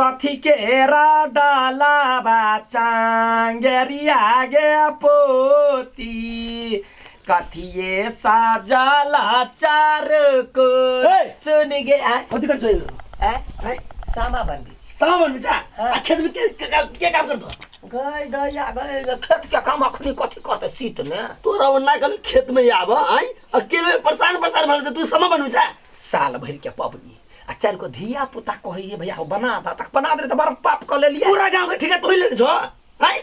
कथी केरा डालाबा चांगेरिया गे पोती कथिए साजाला चार को ए! सुन गे आ कथी कर छै आ हैं सामा बनबी छी सावन में जा हाँ। आ खेत में के के- के के काम करतो गई दैया गई गे खेत के काम अखनी कथी करते शीत में तोरा वो ना कल खेत में आब आई अकेले परेशान परेशान भर से तू समा बनू जा साल भर के पबनी आ चार गो धिया पुता कहिए भैया हो बना दा तक बना दे तो बड़ पाप कर ले लिया पूरा गांव के ठिका तोहि लेने छो हैं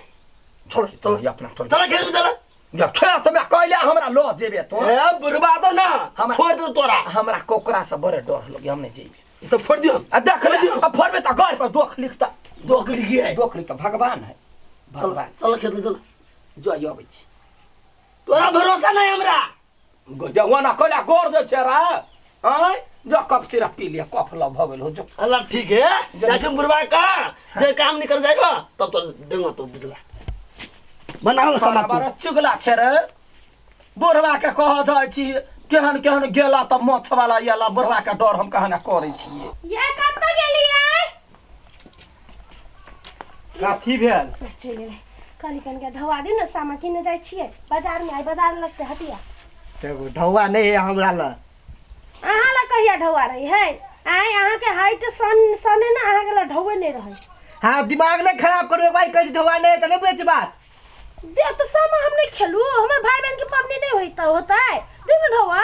चलो चलो ये अपना चलो चलो खेत में चलो या खेत में कहले हमरा लो जेबे तो ए बुरबा दो ना हम- फोड़ दो तोरा हमरा कोकरा से बड़े डर लगे हम नहीं जेबे ई सब फोड़ दियो आ देख ले आ फोड़बे त घर पर दोख लिखता दो के लिए है दोख लिखता भगवान है चलो भगवान चलो खेत में चलो जो यो अबै छी तोरा भरोसा नहीं हमरा जवाना कला गोर दे छै रा आय जो कप सिरप पी लिया कफ लग भ गेल हो जो अल्लाह ठीक है जैसे बुरबा का जे काम निकल जाएगा तब तो देंगे तो बुझला बनाओ ना सामान बड़ा तू चुगला छै रे बुढ़वा के कह दै छी केहन केहन गेला त मछ वाला याला बुढ़वा के डर हम कहना करै छी ये कब तक गेलिए काथी भेल चलि गेलै कहली कनिका ढौआ दियौ ने सामा किने जाइ छियै बाजारमे आइ बाजार लगतै हटिया देखो ढौआ नहीं है हमरा ल अहाँ लए कहिया ढौआ रही है आइ अहाँके हाइट सन सने ने अहाँके लए ढौए नहि रहै हाँ दिमाग नहीं खराब करो भाई कहीं ढौआ नहीं है तो नहीं बुझे बात दे तो सामा हम नहीं खेलू हमर भाई बहन के पबनी नहीं होता होता है दे ना ढौआ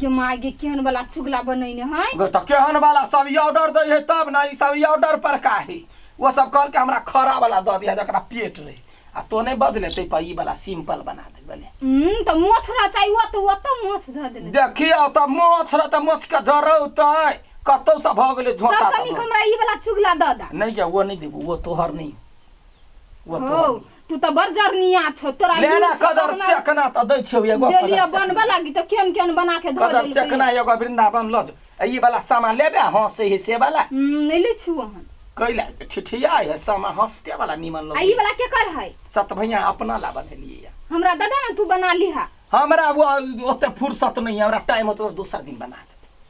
गे माय गे केहन वाला चुगला बनैने है गे तऽ केहन वाला सब ई ऑर्डर दै है तब ने ई सब ई ऑर्डर पर का है वो सब कहल के हमरा खरा वाला दऽ दिया जकरा पेट रहे आ तो नहीं बजले ते पर ई वाला सिंपल बना दे बने हम्म तऽ मोछ रह चाही ओ तऽ ओ तऽ मोछ धऽ देले देखियो तऽ मोछ रह तऽ मोछ के जरौतै कतौ से भऽ गेलै झोटा सबसँ तऽ नीक भऽ- हमरा ई वाला चुगला दऽ दा नहीं क्या वो नहीं देबू वो तोहर नहीं वो हो तोहर नहीं। तू तऽ बड़ जरनिया छौ तोरा ले लूर ना छौ, कदर अपना सेकना तऽ दै छियौ एगो कदर देलियै सेकना। बनबऽ लागी तऽ केहन केहन बना के धऽ कदर देलकै सेकना एगो वृन्दावन लऽ जो आ ई वाला सामा लेबे हँसे हे से वाला हम्म, नहि लै छियौ हन कैला ठिठिया है सामा हँसते वाला निमन आ ई लग वाला केकर है सत भैया अपना ला बनेलियै या। हमरा दादा ने तू बना लिहा हमरा वो ओते फुर्सत नहीं है हमरा टाइम होते तो दूसरा दिन बना लेते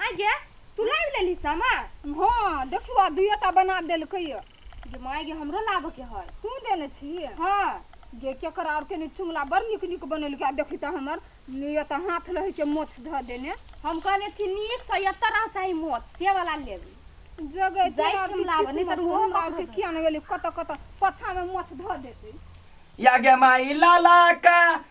आइ गे तू लाबि लेली सामा हँ देखू आ दुइयो टा बना देलकै गे माय गे हमरो लाबऽ के है तू देने छी हँ गे केकर आर के चुमला बड़ नीक नीक बनेलकै आ देखी तऽ हमर एतऽ हाथ लहै के मोछ धऽ देने हम कहने छी नीक से एतऽ रह चाही मोछ से वाला लेबी जगह जाइ छी हम लाबऽ नहि तऽ ओहो हमरा आरके किया नहि गेली कतऽ कतऽ पछामे मोछ धऽ देतै या गे माई लाला का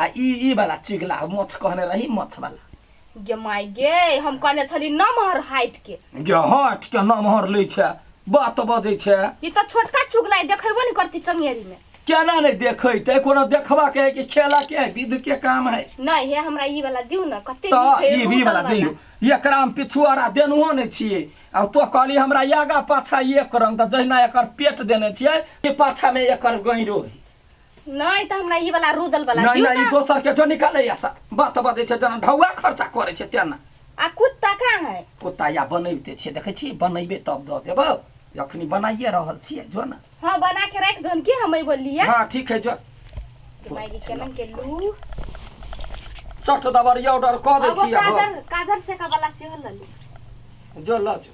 आ ई ई वाला चिगला मोछ कहने रही मोछ वाला गे माय गे हम कहने छली नमहर हाइट के गे हट के नमहर लै छै बात बजै छै ई तऽ छोटका चुगला देखेबो ने करती चंगेरी में केना नहि देखैते कोनो देखबा के है कि खेला के है विध के काम है नहीं हे हमरा ई वाला दिउ न कते तऽ नीक है, ई भी रूदल वाला दियौ एकरा हम पिछुआरा देनहो नहि छियै आ तो कहली हमरा आगा पाछा एक रंग तऽ जहिना एकर पेट देने छियै कि पाछा मे एकर गैरो है नहीं तो हमरा ई वाला रुदल वाला नहीं दियौ नहीं ई ना। दोसर के जो निकाले या सा बात बदे छै जना ढौआ खर्चा करे छै तेना आ कुत्ता कहाँ है कुत्ता या बनैबते छियै देखै छी बनैबे तब दऽ देबौ अखनी बनाइए रहल छियै जो ना हाँ बना के रख दो की हम एगो लिया हाँ ठीक है जो मायगी केलन के लू चट दबरिया ऑर्डर कऽ दै अब छियै काजर काजर से का वाला सेहो लली जो लऽ जो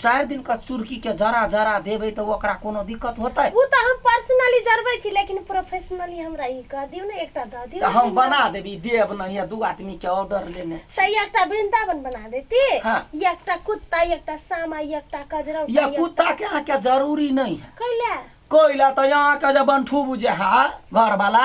चारि दिन का चुरकी के जरा जरा देबे तो ओकरा कोनो दिक्कत होते उ त हम पर्सनली जरबै छी लेकिन प्रोफेशनली हमरा ई कह दियौ ने एकटा द दियौ तो हम बना देबी देब ना या दू आदमी के ऑर्डर लेने छी सही एकटा वृंदावन बना देती हाँ। या एकटा कुत्ता या एकटा सामा या एकटा कजरा या कुत्ता के अहाँ के जरूरी नहीं है कैला कोइला तो यहाँ के जे बंठू बुझे हा घर वाला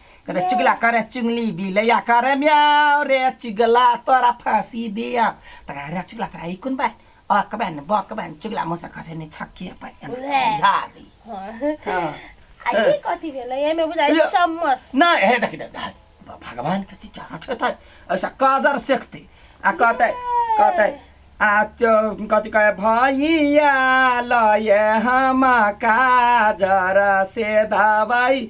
अरे चुगला करे चुगली बिलैया करे म्याओ रे चुगला तोरा फांसी दिया तका रे चुगला तोरा ई कोन बात अ कबे न ब कबे न चुगला मोसा खसे ने छक्की अपन उहे। जा दी हाँ। हाँ। आ ई कथी भेलै एहिमे बुझाइ यो। चम्मच ना हे देखि दे दे। भ- भगवान के चीज जहाँ ठेता ऐसा काजर सेकते आ कहते कहते आ चो कथी कहे भैया लये हम काजर से दवाई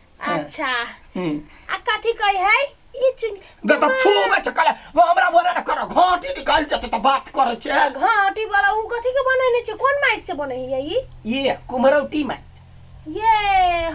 अच्छा हम्म। आ कथी कही है ई चुन गे त फू में छकल वो हमरा बोले ना करो घाटी निकाल जते त बात करे छे घाटी वाला उ कथी के बने ने छै कोन माइट से बने है ई ये कुमरौटी में ये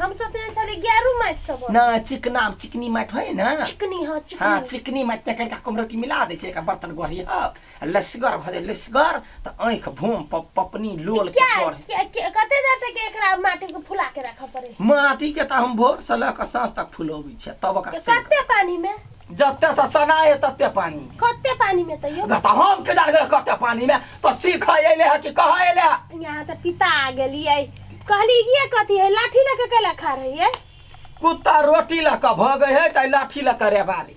हम सोचने छले गेरू माइट से बने ना चिकना चिकनी माट है ना चिकनी हां चिकनी हाँ चिकनी माट में करके कुमरौटी मिला दे छे एक बर्तन गोरी हां आ लसगर भऽ जाय लसगर तऽ आँखि भोम प- पपनी लोल के क्या चढ़ क्या- क्या- कते देर तक एकरा माटी के फुला के रखऽ पड़े है? माटी के तऽ हम भोर से लऽ कऽ साँझ तक फुलौबै छियै तब ओकरा से कते पानी में जते से सनाए तते पानी मे कते पानी में तैयो अगर तऽ हम के जान गेल कते पानी मे तऽ सीख अयले है कि कहाँ अयले है यहाँ तऽ पिता आ गेलियै कहली ये कथी है लाठी लेके कैला खा रही है कुत्ता रोटी लऽ कऽ भगै है तऽ लाठी लऽ कऽ रेबारी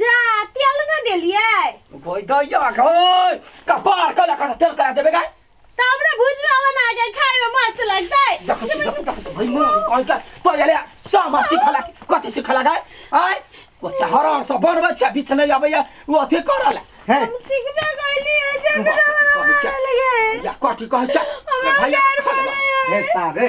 जा तेल ना देलिए कोई दैया गई कपार कला खा तेल करा देबे गाय तब ना भुजवा बना के खाए में मस्त लगतै देखो छी, देखो देखो छी, भाई मोर कोई का तो याले सामा सिखला कथि सिखला गाय आय ओ हराम सब बनबै छै बीच नै आबैया ओ अथि करल है हम सीखबे गइली है जे हमरा बना लगे या कथि कहै छै भैया खा लेबा हे पारे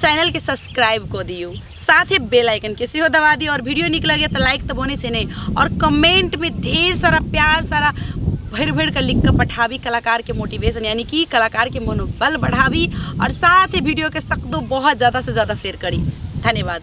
चैनल के सब्सक्राइब कऽ दियौ साथे बेल आइकन के सेहो दबा दियौ और वीडियो नीक लगैए तऽ लाइक तऽ बनै छै नहि और कमेंट में ढेर सारा प्यार सारा भरि भरि कऽ लिख कऽ पठाबी कलाकार के मोटिवेशन यानी कि कलाकार के मनोबल बढ़ाबी और साथ ही वीडियो के सकदो बहुत ज्यादा से ज्यादा शेयर करी धन्यवाद